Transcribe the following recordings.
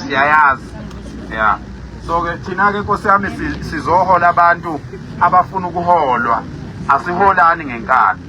siyayazi ya so ke thina ke nkosi yami sizohola abantu abafuna ukuholwa asiholani ngenkani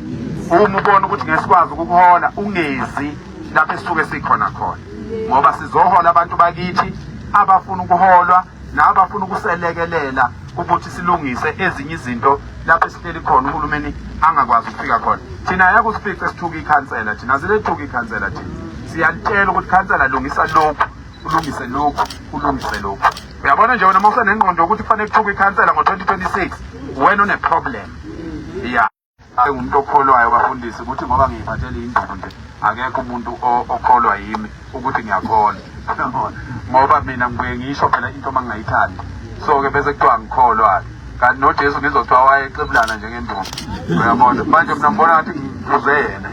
uma ubona ukuthi ngesikwazi ukukuhola ungezi lapho esisuke sikhona khona ngoba sizohola abantu bakithi abafuna ukuholwa nabafuna ukuselekelela ukuthi silungise ezinye izinto lapho esihleli khona uhulumeni angakwazi ukufika khona thina ayakusifice sithuka ikhansela thina silethuka ikhansela thina siyalitshela ukuthi khansela lungisa lokhu ulungise lokhu ulungise lokhu uyabona nje wena uma usenengqondo yokuthi kufanele kuthuka ikhansela ngo-2026 wena uneproblem ya Hayi umuntu okholwayo bafundisi ukuthi ngoba ngiyiphathele induku nje akekho umuntu okholwa yimi ukuthi ngiyakholwa ngoba mina ngibuye ngisho phela into uma ngingayithandi so-ke bese kuthiwa ngikholwa-ke kanti nojesu ngizothiwa wayexebulana njengenduku uyabona manje mina ngibona ngathi ngizuze yena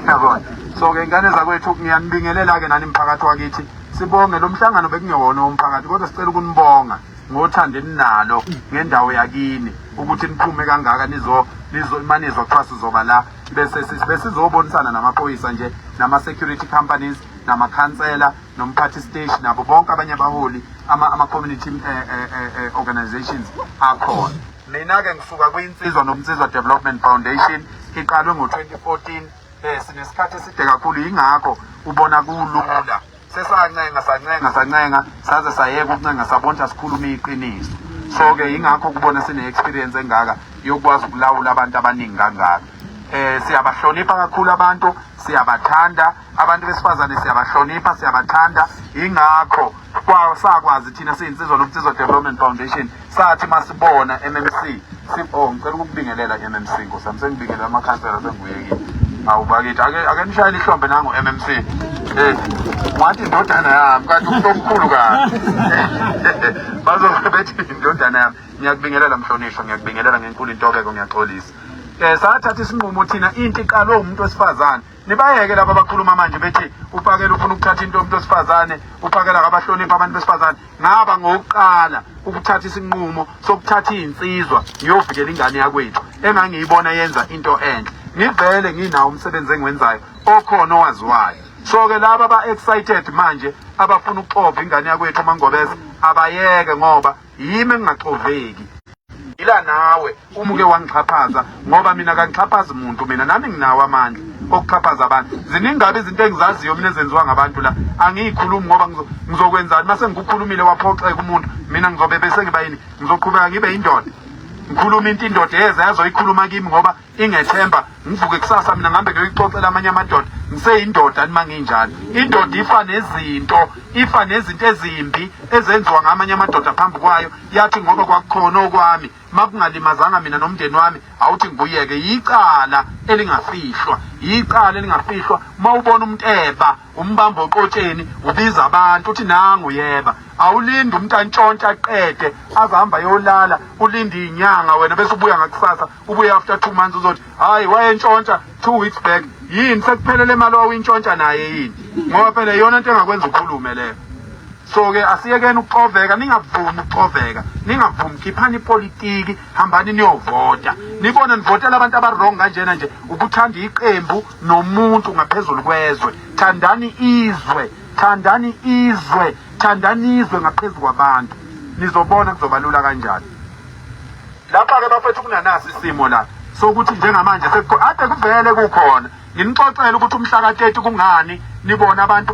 yabona so-ke ingane zakwethu ngiyanibingelela-ke nani mphakathi wakithi sibonge lo mhlangano bekungewona womphakathi kodwa sicela ukunibonga ngothando eninalo ngendawo yakini ukuthi niphume kangaka nizo nizo manizwa kuthiwa sizoba la bese besizobonisana namaphoyisa nje nama-security companies namakhansela nomphathi stage nabo bonke abanye abaholi ama-community ama eh, eh, eh, eh, organizations akhona mina-ke ngisuka kwinsizwa nomnsizwa development foundation iqalwe ngo-2014 um sinesikhathi eside kakhulu yingakho ubona kulula sesancenga sancenga sancenga saze sayeka ukuncenga sabonta sikhuluma iqiniso so ke ingakho kubona sine experience engaka yokwazi ukulawula abantu abaningi kangaka eh siyabahlonipha kakhulu abantu siyabathanda abantu besifazane siyabahlonipha siyabathanda ingakho kwasakwazi thina siyinsizwa nomthizo development foundation sathi masibona MMC sipho oh, ngicela ukubingelela MMC Nkosi yami sengibingelela amakhansela sengibuyekile awu bakithi ake ake nishayele ihlombe nangu MMC eh wathi indodana yami kanti umuntu omkhulu kabi bazobe bethi indodana yami ngiyakubingelela mhlonishwa ngiyakubingelela ngenkulu intobeko ngiyaxolisa eh sathatha isinqumo thina inti iqalwe umuntu wesifazane Nibayeke laba abakhuluma manje bethi uPakela ufuna ukuthatha into yomuntu wesifazane, uPakela akabahloniphi abantu besifazane. Ngaba ngokuqala ukuthatha isinqumo sokuthatha izinsizwa ngiyovikela ingane yakwethu engangiyibona yenza into enhle. Ngivele nginawo umsebenzi engiwenzayo okhona owaziwayo. So ke laba ba excited manje abafuna ukuxova ingane yakwethu uMangobese abayeke ngoba yimi engingaxoveki ngila nawe uma uke wangixhaphaza ngoba mina kangixhaphazi muntu mina nami nginawo amandla okuxhaphaza abantu ziningabe izinto engizaziyo mina ezenziwa ngabantu la angiyikhulumi ngoba ngizokwenzani uma sengikukhulumile waphoxeka umuntu mina ngizobe bese ngiba yini ngizoqhubeka ngibe yindoda ngikhuluma into indoda yeze yazoyikhuluma kimi ngoba ingethemba ngivuke kusasa mina ngihambe ngiyoyixoxela amanye amadoda ngiseyindoda nima nginjalo indoda ifa nezinto ifa nezinto ezimbi ezenziwa ngamanye amadoda phambi kwayo yathi ngoba kwakukhona okwami makungalimazanga mina nomndeni wami awuthi ngibuyeke yicala elingafihlwa yicala elingafihlwa uma ubona umuntu eba umbamba oqotsheni ubiza abantu uthi nangu yeba awulindi umuntu antshontshe aqede aze hamba yolala ulinde inyanga wena bese ubuya ngakusasa ubuye after two months uzothi hayi wayentshontsha two weeks back yini sekuphelele imali wawuyintshontsha naye yini ngoba phela iyona into engakwenza ukhulume leyo so-ke asiyekeni ukuxoveka ningavumi ukuxoveka ningavumi khiphani ipolitiki hambani niyovota nibone nivotela abantu abarong kanjena nje ukuthanda iqembu nomuntu ngaphezulu kwezwe thandani izwe thandani izwe thandani izwe ngaphezu kwabantu nizobona kuzobalula kanjani Lapha ke bafethu kunanasi isimo la sokuthi njengamanje ade kuvele kukhona nginixoxele ukuthi umhlaka 30 kungani nibona abantu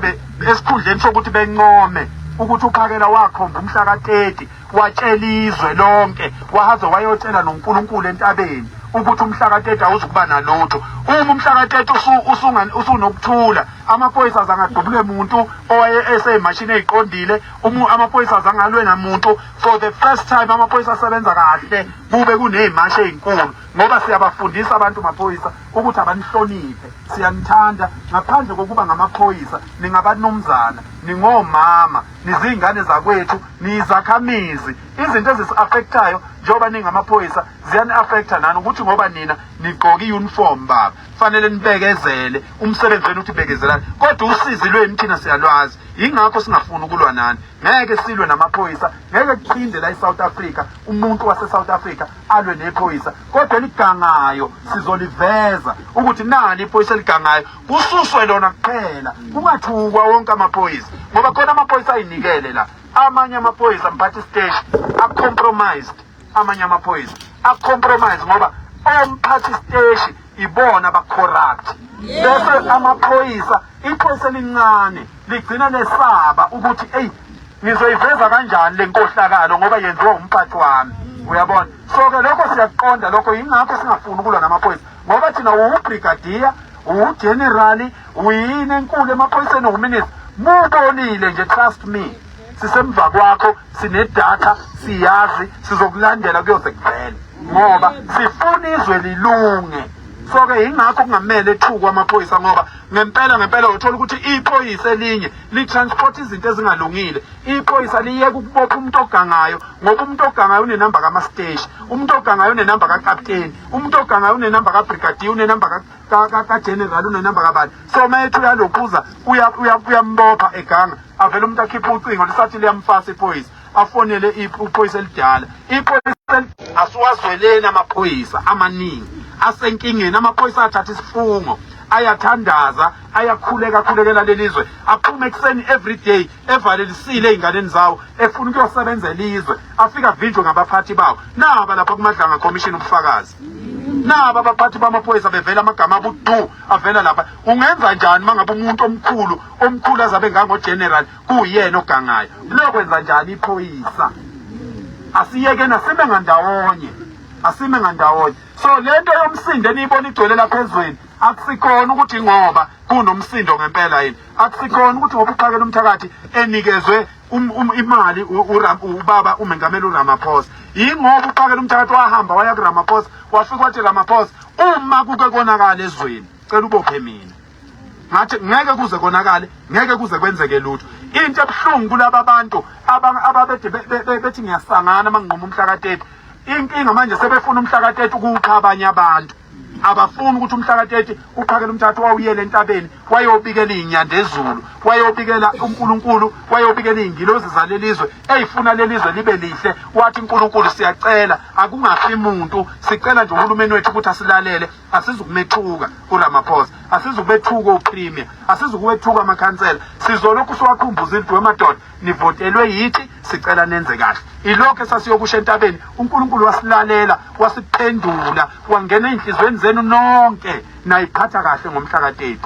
esikhundleni sokuthi bencome ukuthi uphakela wakhomba umhlaka 30 watshela izwe lonke wahaze wayotshela noNkulunkulu entabeni ukuthi umhlaka 30 awuzukuba nalutho uma umhlaka 30 usunokuthula amaphoyisa azangadubule muntu owaye eseyimashini eziqondile uma amaphoyisa azangalwe namuntu for the first time amaphoyisa asebenza kahle kube kuney'mashi ey'nkulu ngoba siyabafundisa abantu maphoyisa ukuthi abanihloniphe siyanithanda ngaphandle kokuba ngamaphoyisa ningabanumzana ningomama niziy'ngane zakwethu niyizakhamizi izinto ezisi-afekthayo njengoba ningamaphoyisa ziyani-afektha nani ukuthi ngoba nina nigqoke i-uniform baba kufanele nibekezele umsebenzi wenu uthi bekezelani kodwa usizi lwenu thina siyalwazi yingakho singafuni ukulwa nani ngeke silwe namaphoyisa ngeke kuphinde la eSouth Africa umuntu waseSouth Africa alwe nephoyisa kodwa eligangayo sizoliveza ukuthi nani iphoyisa eligangayo kususwe lona kuphela kungathukwa wonke amaphoyisa ngoba khona amaphoyisa ayinikele la amanye amaphoyisa mphathi stage a compromised amanye amaphoyisa acompromise ngoba omphathi steshi ibona abacorrupt bese amaphoyisa iphoyisa elincane ligcina lesaba ukuthi eyi ngizoyiveza kanjani le nkohlakalo ngoba yenziwa umphathi wami uyabona so-ke lokho siyakuqonda lokho yingakho singafuni ukulwa namaphoyisa ngoba thina uwubrigadiya uwujenerali uyini enkulu emaphoyiseni uwuminista mubonile nje trust me sisemva kwakho sinedatha siyazi sizokulandela kuyoze kuvele ngoba sifuna izwe lilunge so-ke yingakho kungamele ethukwe amaphoyisa ngoba ngempela ngempela uthola ukuthi iphoyisa elinye litransport izinto ezingalungile iphoyisa liyeka ukubopha umuntu ogangayo ngoba umuntu ogangayo unenamba kamasteshi umuntu ogangayo unenamba kakapteni umuntu ogangayo unenamba kabrigadier unenamba kajeneral unenamba kabani so uma ethi uyalokhuza uyambopha eganga avele umuntu akhiphe ucingo lisathi liyamfasa iphoyisa afonele iphoyisa elidala iphoyisa asiwazweleni amaphoyisa amaningi asenkingeni amaphoyisa athatha isifungo ayathandaza ayakhuleka akhulekela lelizwe aphume ekuseni every day evalelisile ey'nganeni zawo efuna ukuyosebenza elizwe afika avinjwe ngabaphathi bawo naba lapha kumadlanga commission ubufakazi naba abaphathi bamaphoyisa bevela amagama abudu avela lapha ungenza njani uma ngabe umuntu omkhulu omkhulu azabe ngangogeneral kuyena ogangayo lokwenza njani iphoyisa asiyeke nasime ngandawonye asime ngandawonye so le nto yomsindo eniyibona igcwele lapha ezweni akusikhona ukuthi ngoba kunomsindo ngempela yini Akusikhona ukuthi ngoba uxakela umthakathi enikezwe um, um, imali ubaba umengameli uRamaphosa yingoba uxakela umthakathi wahamba waya kuRamaphosa wafika wathi Ramaphosa uma kuke konakala ezweni cela ubophe mina ngathi ngeke kuze konakale ngeke kuze kwenzeke lutho into ebuhlungu kulaba bantu ababede bethi ngiyasangana mangqoma umhlakatete inkinga manje sebefuna umhlakatete ukuwuqha abanye abantu abafuni ukuthi umhlaka 30 uqhakele umthatha wawuyele entabeni wayobikela inyanda ezulu wayobikela uNkulunkulu wayobikela izingilozi zalelizwe eyifuna lelizwe libe lihle wathi uNkulunkulu siyacela akungafi muntu sicela nje uhulumeni wethu ukuthi asilalele asizukumethuka uRamaphosa asizukubethuka uPremier asizukuwethuka amakhansela sizolokhu siwakhumbuza idwe madoda nivotelwe yithi sicela nenze kahle ilokho esasiyokusho entabeni uNkulunkulu wasilalela wasiphendula wangena ezinhlizweni zenu nonke nayiqhatha kahle ngomhla ka-30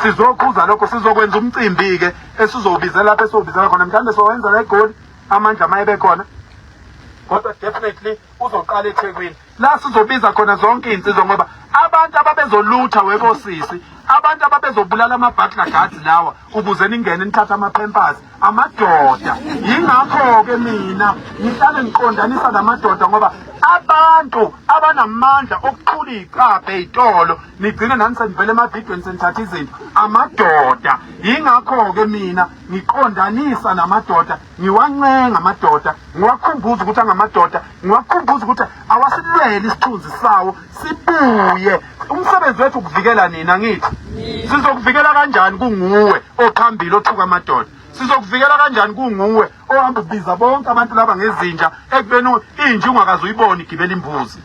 sizokhuza lokho sizokwenza umcimbi ke esizowubizela lapho esizowubizela khona mhlawumbe sowenza la egoli amandla uma ebe khona kodwa definitely uzoqala ethekwini la sizobiza khona zonke izinsizwa ngoba abantu ababezolutha wekosisi abantu ababezobulala ama-butler guards lawa ukuze ningene nithathe ama-pampers amadoda yingakho-ke mina ngihlale ngiqondanisa la madoda ngoba abantu abanamandla okuthula iy'cabhe ey'tolo nigcine nani senivele emavidweni senithatha izinto amadoda yingakho-ke mina ngiqondanisa namadoda Ngiwancenga amadoda, ngiwakhumbuza ukuthi angamadoda, ngiwakhumbuza ukuthi awasilwele isithunzi sawo sibuye. Umsebenzi wethu ukuvikela nina ngithi. Sizokuvikela kanjani kunguwe ophambili othuka amadoda? Sizokuvikela kanjani kunguwe ohamba ubiza bonke abantu laba ngezinja ekubeni inja ungakaze uyibone igibela imbuzi.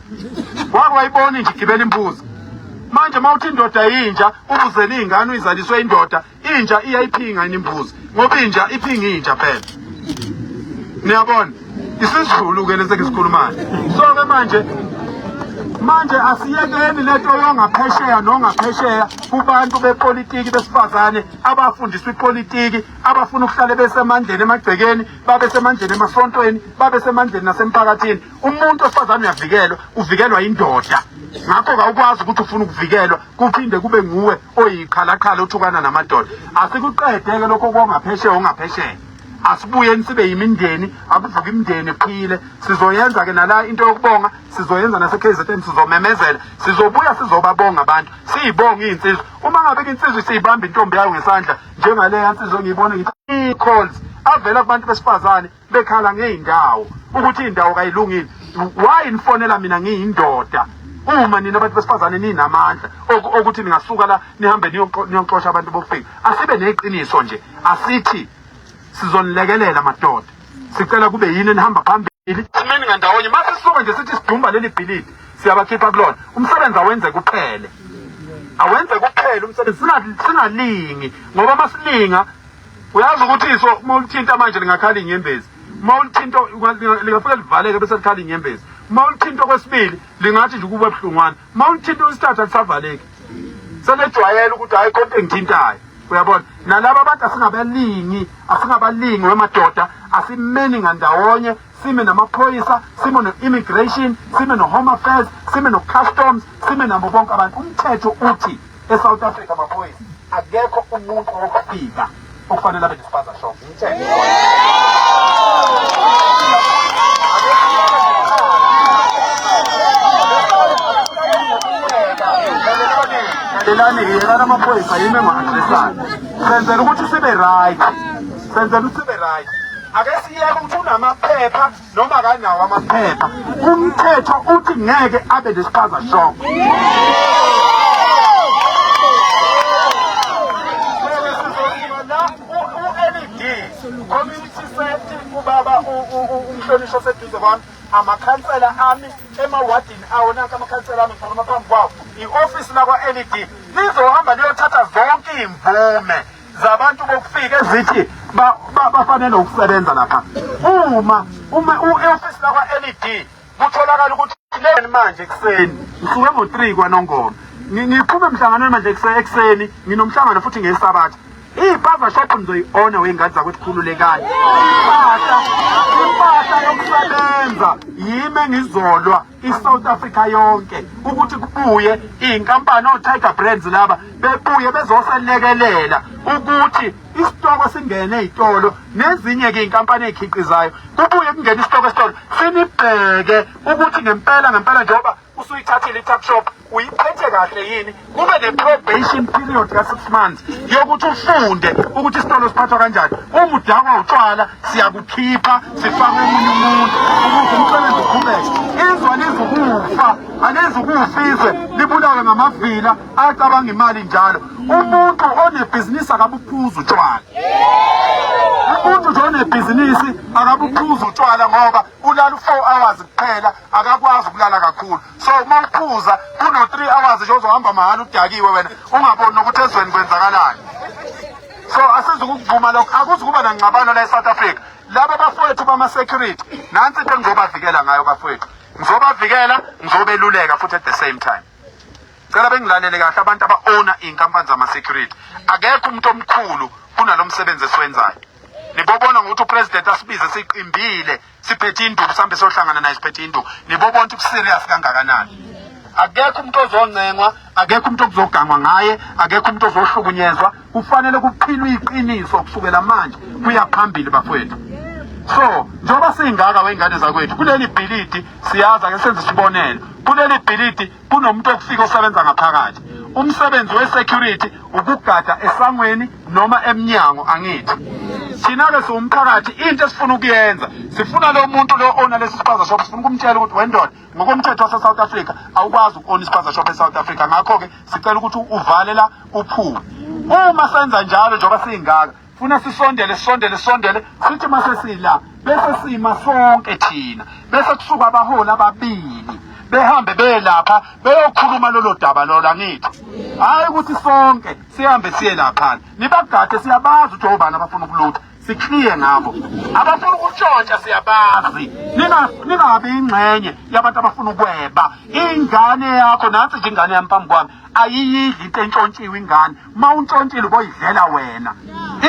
Wake wayibona inja igibela imbuzi. Manje mawuthi indoda yinja ubuzela izingane uyizaliswe indoda inja iyayiphinga yini imbuzi ngoba inja iphinga inja phela niyabona isizulu ke lesi ngisikhulumayo so ke manje manje asiyekeni lento yongaphesheya nongaphesheya kubantu bepolitiki besifazane abafundiswa ipolitiki abafuna ukuhlale besemandleni emagcekeni babe semandleni emasontweni babe semandleni nasemphakathini umuntu wesifazane uyavikelwa uvikelwa indoda ngakho kawukwazi ukuthi ufuna ukuvikelwa kuphinde kube nguwe oyikhalakhala othukana namadoda asikuqedeke lokho kongaphesheya ongaphesheya asibuyeni sibe yimindeni akuvuka imindeni phile sizoyenza ke nala into yokubonga sizoyenza naseKZN sizomemezela sizobuya sizobabonga abantu siyibonga izinsizwa uma ngabe insizwa siyibamba intombi yayo ngesandla njengaleya insizwa engiyibona ngithi calls avela kubantu besifazane bekhala ngey'ndawo ukuthi iy'ndawo kayilungile why nifonela mina ngiyindoda uma nina abantu besifazane ninamandla okuthi ningasuka la nihambe niyoxosha abantu bokufika asibe neqiniso nje asithi sizonilekelela madoda sicela kube yini enihamba phambili simeni ngandawonye uma sisuke nje sithi sidumba leli bhilidi siyabakhipha kulona umsebenzi awenze kuphele awenze kuphele umsebenzi singalingi ngoba masilinga uyazi ukuthi iso uma ulithinta manje lingakhala inyembezi uma ulithinta lingafike livaleke bese likhala inyembezi uma ulithinta okwesibili lingathi nje ukuba buhlungwana uma ulithinta okwesithathu alisavaleki selejwayela ukuthi hhayi konke engithintayo uyabona nalaba abantu asingabalingi asingabalingi wemadoda asimeni ngandawonye sime namaphoyisa sime no-immigration sime no-home affairs sime no-customs sime nabo bonke abantu umthetho uthi e-south africa maphoyisa akekho umuntu wokufika okufanele abe nespaza shop umthetho lalelani-ke yekani amaphoyisa yimi engo-adresani senzela ukuthi sibe right Senzela usibe right. Ake siyeke ukuthi unamaphepha noma kanawo amaphepha. Umthetho uthi ngeke abe nespaza shop. Community safety ubaba umhlonishwa seduze kwami amakhansela ami emawadini awo nanka amakhansela ami ngikhuluma phambi kwawo i-ofisi lakwa-led lizohamba liyothatha zonke iy'mvume zabantu bokufika ezithi bafanele ukusebenza lapha uma uma u-ofisi lakwa-led kutholakala ukuthi leni manje ekuseni ngisuke ngo-three kwanongoma ngiphume emhlanganweni manje ekuseni nginomhlangano futhi ngesabatha iy'pava shopho nizoyi-ona wey'ngadi zakwethu khululekani impahla impahla yokusebenza yimi engizolwa i-south africa yonke ukuthi kubuye iy'nkampani o-tiger brands laba bebuye bezoselekelela ukuthi isitoko singene ey'tolo nezinye-ke iy'nkampani ey'khiqizayo kubuye kungene isitoko esitolo sinibheke ukuthi ngempela ngempela njengoba usuyithathile i-tuck shop uyiphethe kahle yini kube ne-probation period ka-six months yokuthi ufunde ukuthi isitolo siphathwa kanjani uma udakwa utshwala siyakukhipha sifake omunye umuntu ukuthi umsebenzi uqhubeke izwa lizukufa alizukufa izwe libulawe ngamavila acabanga imali njalo umuntu onebhizinisi akabuphuza utshwala umuntu nje onebhizinisi akabuphuza utshwala ngoba ulala u-four hours kuphela akakwazi ukulala kakhulu so uma uphuza kuno-three hours nje ozohamba mahhala udakiwe wena ungaboni nokuthi ezweni kwenzakalani so asizi ukukuvuma lokho akuzi kuba nangxabano la e-south africa laba bafowethu bama-security nansi into engizobavikela ngayo bafowethu ngizobavikela ngizobeluleka futhi at the same time cela bengilalele kahle abantu aba-owna iy'nkampani zama-security akekho umuntu omkhulu kunalo msebenzi esiwenzayo nibobona ngokuthi upresident asibize siqimbile siphethe induku mhlawumbe sohlangana naye siphethe induku nibo bonke ubuserious kangakanani akekho umuntu ozoncengwa akekho umuntu okuzogangwa ngaye akekho umuntu ozohlukunyezwa kufanele kuphilwe iqiniso kusukela manje kuya phambili bafowethu so njengoba singaka wengane zakwethu kuleli bhilidi siyazi ake senze isibonelo kuleli bhilidi kunomuntu okufika osebenza ngaphakathi umsebenzi we-security ukugada esangweni noma emnyango angithi thina-ke siwumphakathi into esifuna ukuyenza sifuna lo muntu lo ona lesi spaza shop sifuna ukumtshela ukuthi wendoda ngokomthetho wase-south africa awukwazi uku-ona ispaza shop e-south africa ngakho-ke sicela ukuthi uvalela uphume uma senza njalo njengoba siyingaka funa sisondele sisondele sisondele sithi mase sila bese sima sonke thina bese kusuka abaholi ababili behambe belapha beyokhuluma lolo daba lola ngithi hayi ukuthi sonke sihambe siye laphana nibagade siyabazi ukuthi obani abafuna ukulutha sikliye ngabo abafuna ukutshontsha siyabazi ningabi ingxenye yabantu abafuna ukweba ingane yakho nansi nje ingane yami phambi kwami ayiyidli into entshontshiwe ingane ma untshontshile uboyidlela wena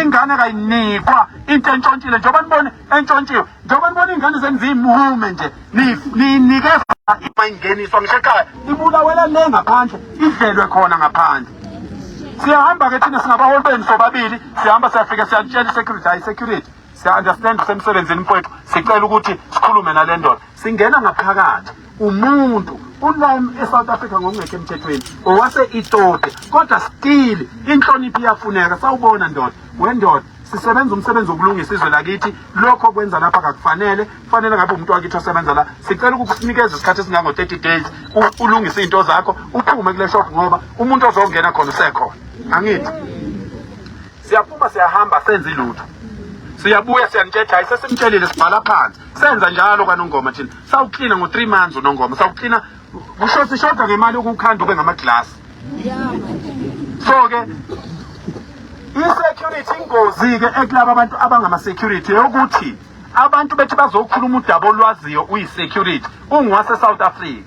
ingane kayinikwa into entshontshile njengoba nibona entshontshiwe njengoba nibona iy'ngane zenu ziyimuhume nje niyinike ingeniswa ngisho ekhaya ibulawela le ngaphandle idlelwe khona ngaphandle siyahamba-ke thina singabaholi benu sobabili sihamba siyafike siyalitshela i-security hayi i-security siya understand kusemsebenzini mfowethu sicela ukuthi sikhulume nale ndoda singena ngaphakathi umuntu ulime eSouth Africa ngokungekho emthethweni owase itode kodwa still inhlonipho iyafuneka sawubona ndoda wendoda sisebenza umsebenzi wokulungisa izwe lakithi lokho kwenza lapha kakufanele kufanele ngabe umuntu wakithi osebenza la sicela ukukunikeza isikhathi esingango-30 days ulungise iy'nto zakho uphume kule shop ngoba umuntu ozongena khona usekhona angithi Siyaphuma siyahamba senze ilutho. Siyabuya siyanitshetha isesimtshelile sibhala phansi. Senza njalo kanongoma thina. Sawuklina ngo 3 months unongoma. Sawuklina kusho sishoda ngemali ukukhanda ube ngama glass. So ke i-security ingozi-ke ekulaba abantu abangama-security yokuthi abantu bethi bazokhuluma udaba olwaziyo uyi-security unguwase-south africa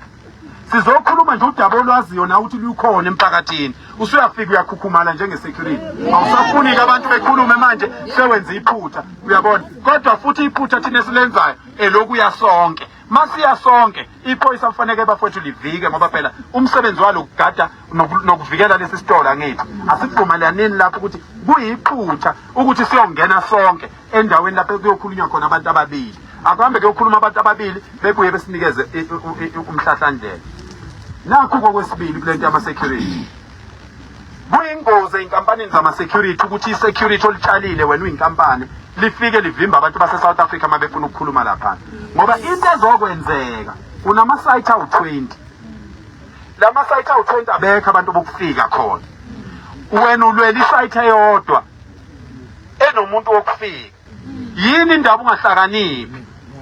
sizokhuluma nje udaba olwaziyo nawe ukuthi lukhona emphakathini usuyafika uyakhukhumala njengesecurity awusafuniki abantu bekhulume manje sewenza iphutha uyabona kodwa futhi iphutha thina esilenzayo elokuya sonke masiya sonke iphoyisa kufaneke bafowethu livike ngoba phela umsebenzi walo kugada nokuvikela lesi sitolo angithi asigqumalelanini lapho ukuthi kuyiphutha ukuthi siyongena sonke endaweni lapho kuyokhulunywa khona abantu ababili akuhambe kuyokhuluma abantu ababili bebuye besinikeze umhlahlandlela nakho kokwesibili kule nto yama-security kuyingozi ey'nkampanini zama-security ukuthi i-security olitshalile wena uyinkampani lifike livimba abantu base-south africa uma befuna ukukhuluma laphana ngoba into ezokwenzeka unama-site awu-twenty la ma-site awu-twenty abekho abantu bokufika khona wena ulwela isayithe yodwa enomuntu wokufika yini indaba ungahlakaniphi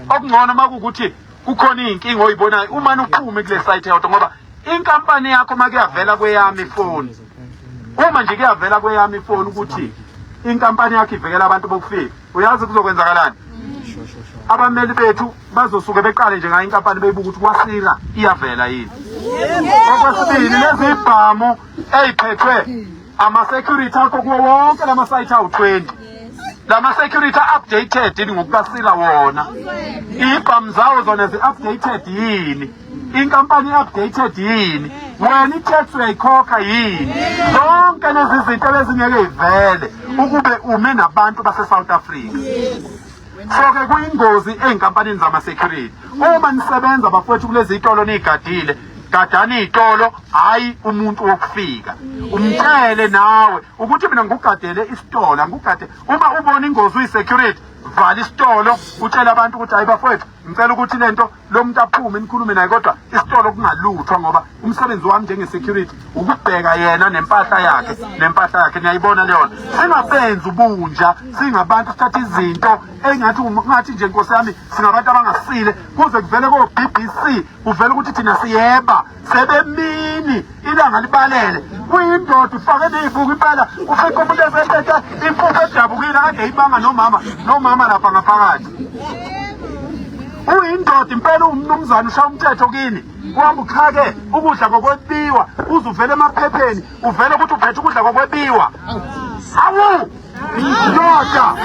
okungcono uma kuwukuthi kukhona iy'nkinga oyibonayo umane uqhume kule site yodwa ngoba inkampani yakho uma kuyavela kweyami ifoni uma nje kuyavela kweyami ifoni ukuthi inkampani yakho ivikela abantu bokufika uyazi kuzokwenzakalani abameli bethu bazosuke beqale nje ngayo inkampani beyibuka ukuthi kwasika iyavela yini okwesibili lezi ibhamu eyiphethwe Ama-security akho kuwo wonke la masayithi awu-20 la ma-security a-updated yini ngokukasila wona iy'bhamu zawo zona zi-updated yini inkampani i-updated yini wena i-tax uyayikhokha yini zonke lezi zinto ebezingeke ivele ukube ume nabantu base-south africa so-ke kuyingozi ey'nkampanini zama-security uma nisebenza bafowethu kulezi y'tolo niy'gadile gadani itolo hayi umuntu wokufika umtshele nawe ukuthi mina ngikugadele isitolo angikugade uma ubona ingozi uyi-security vala isitolo utshele abantu ukuthi hayi bafowethu ngicela ukuthi le nto lo muntu aphume nikhulume naye kodwa isitolo kungaluthwa ngoba umsebenzi wami njenge-security ukubheka yena nempahla yakhe nempahla yakhe niyayibona leyona singabenzi ubunja singabantu sithatha izinto engathi ungathi nje nkosi yami singabantu abangasile kuze kuvele ko-b b c kuvela ukuthi thina siyeba sebemini ilanga libalele kuyindoda ufake neyibuka impela ufike umuntu esethethe impuphu edabukile kade yibanga nomama nomama lapha ngaphakathi uyindoda impela uwumnumzane ushaya umthetho kini kwamba uxhake ukudla kokwebiwa uze uvele emaphepheni uvele ukuthi uphethe ukudla kokwebiwa awu Ndoda.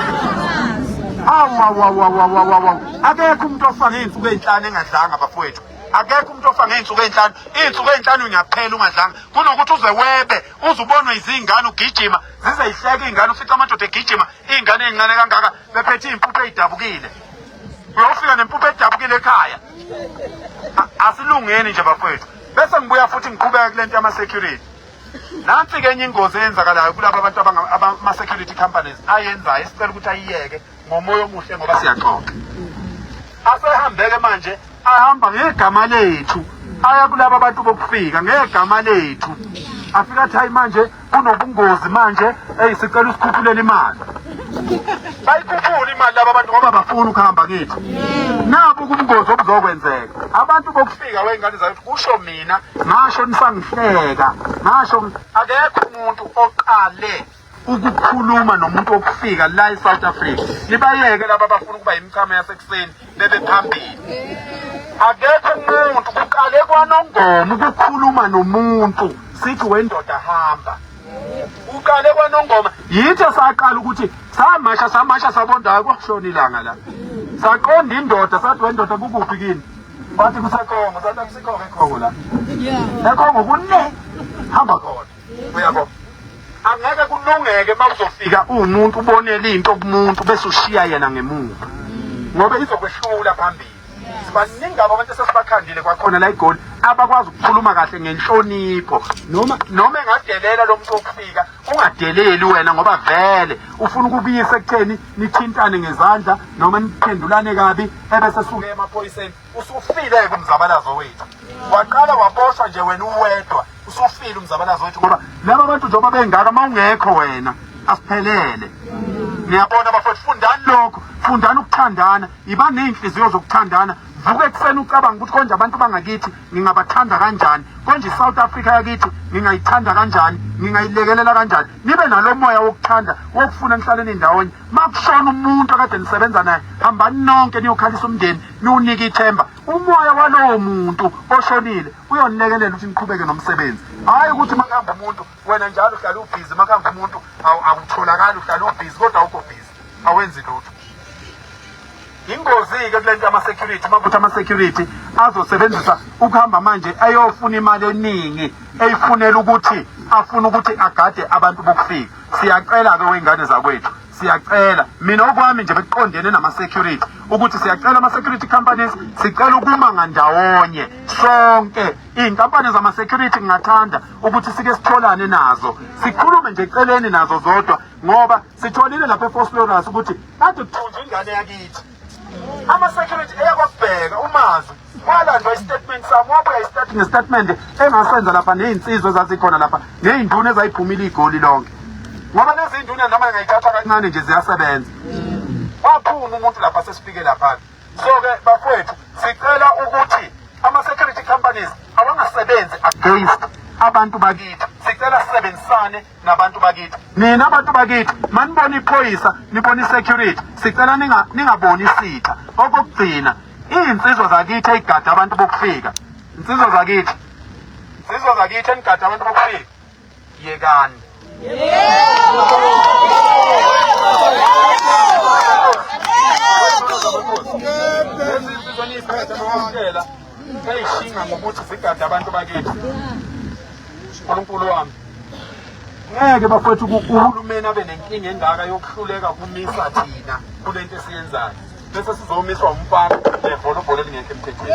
Awawawawawawawa. Akekho umuntu ofaka izinsuku ezinhlanu engadlanga bafowethu. Akekho umuntu ofaka izinsuku ezinhlanu. Izinsuku ezinhlanu ingaphela ungadlanga. Kunokuthi uze webe, uzubonwe izingane ugijima, zize ihleke izingane ufica amadoda egijima, izingane ezincane kangaka bephethe izimpuphe ezidabukile. Uyofika nempuphe edabukile ekhaya. Asilungeni nje bafowethu. Bese ngibuya futhi ngiqhubeka kulento yama security. nansi ke enye ingozi eyenzakalayo kulaba abantu abama-security companies ayenzayo esicela ukuthi ayiyeke ngomoya omuhle ngoba siyaxoxa asehambeke manje ahamba ngegama lethu aya kulaba bantu bokufika ngegama lethu afika athi hayi manje kunobungozi manje eyi sicela usikhuphulele imali bayikhuphula imali laba bantu ngoba bafuna ukuhamba kithi nabu kubungozi obuzokwenzeka abantu bokufika wey'ngane zakithi kusho mina ngasho nisangihleka ngasho akekho umuntu oqale ukukhuluma nomuntu okufika la e-south africa nibayeke laba abafuna ukuba yimichama yasekuseni bebe phambili akekho umuntu kuqale kwanongoma ukukhuluma nomuntu sithi wendoda hamba uqale kwanongoma yithi saqala ukuthi samasha samasha sabonda akwashona ilanga la saqonda indoda sathi wendoda kukuphi kini wathi kusekhongo sathi akusikhongo ekhongo la ekhongo kune hamba khona uyabo angeke kulungeke uma uzofika uwumuntu ubonela into kumuntu bese ushiya yena ngemuva ngoba izokwehlula phambili sibaningi abo abantu esesibakhandile kwakhona la igoli abakwazi ukukhuluma kahle ngenhlonipho noma noma engadelela lo muntu okufika ungadeleli wena ngoba vele ufuna ukubiyisa ekutheni nithintane ngezandla noma niphendulane kabi ebese suke emaphoyiseni usufile-ke umzabalazo wethu waqala waboshwa nje wena uwedwa usufile umzabalazo wethu ngoba laba bantu njengoba bengaka uma ungekho wena asiphelele niyabona bafowethu fundani lokho fundani ukuthandana Yiba ney'nhliziyo zokuthandana vuka ekuseni ucabanga ukuthi konje abantu bangakithi ngingabathanda kanjani konje i-south africa yakithi ngingayithanda kanjani ngingayilekelela kanjani nibe nalo moya wokuthanda wokufuna nihlaleni ndawonye ma kushona umuntu akade nisebenza naye hambani nonke niyokhalisa umndeni niwunike ithemba umoya walowo muntu oshonile uyonilekelela ukuthi niqhubeke nomsebenzi hhayi ukuthi makuhamba umuntu wena njalo uhlala ubhizi makuhamba umuntu awutholakali uhlala ubhizi kodwa awukho bhizi awenzi lutho ingozi-ke kule nto yama-security uma kuthi ama-security azosebenzisa ukuhamba manje eyofuna imali eningi eyifunela ukuthi afuna ukuthi agade abantu bokufika siyacela-ke wey'ngane zakwethu siyacela mina okwami nje bekuqondene nama-security ukuthi siyacela ama-security companies sicela ukuma ngandawonye sonke iy'nkampani zama-security ngingathanda ukuthi sike sitholane nazo sikhulume nje celeni nazo zodwa ngoba sitholile lapha eFosloras ukuthi kade kuthunjwe ingane yakithi ama security eyakubheka umazi walandwa istatement sami wabuya istatement nestatement engasenza lapha nezinsizwa ezazikhona lapha nezinduna ezayiphumile igoli lonke ngoba lezi nduna noma ngayithatha kancane nje ziyasebenza waphuma umuntu lapha sesifike lapha so ke bafowethu sicela ukuthi ama security companies awangasebenzi against abantu bakithi sicela sisebenzisane nabantu bakithi nina abantu bakithi manibona iphoyisa nibona isecurity sicela ningaboni isitha okokugcina iy'nsizwa zakithi eyigada abantu bokufika nsizwa zakithi nsizwa zakithi enigada abantu bokufika yekani lezizizwa niyiphethe nokwamukela seyishinga ngokuthi zigade abantu bakithi unkulunkulu wami ngeke bafethu uhulumeni abe nenkinga engaka yokuhluleka kumisa thina kule nto esiyenzayo bese sizomiswa umfana levolobholo elingekho emthethweni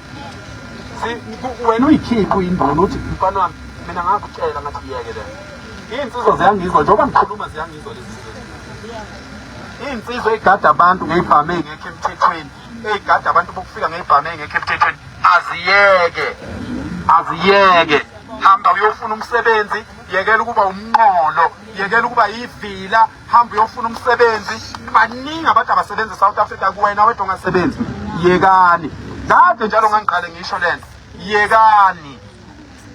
wena uyikhiphi uyinduna uthi mfana wami mina ngakutshela ngathi yeke le iy'nsizwa ziyangizwa njengoba ngikhuluma ziyangizwa lezi iy'nsizwa ey'gada abantu ngey'bhame engekho emthethweni ey'gada abantu bokufika ngey'bhame engekho emthethweni aziyeke aziyeke hamba uyofuna umsebenzi yekela ukuba umnqolo yekela ukuba yivila hamba uyofuna umsebenzi baningi abantu abasebenza eSouth Africa kuwena wedwa ongasebenzi yekani kade njalo ngangiqale ngisho lento yekani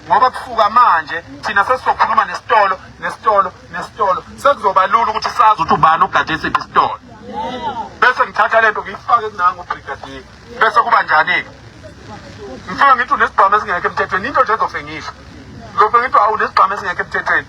ngoba kufuka manje thina sesizokhuluma nesitolo nesitolo nesitolo sekuzoba lula ukuthi sazi ukuthi ubani ogade siphi isitolo bese ngithatha lento ngiyifake kunango brigadier bese kuba njani-ke ngifike ngithi unesibhamu esingekho emthethweni into nje ezofe ngisho ngizofe ngithi awu unesibhamu esingekho emthethweni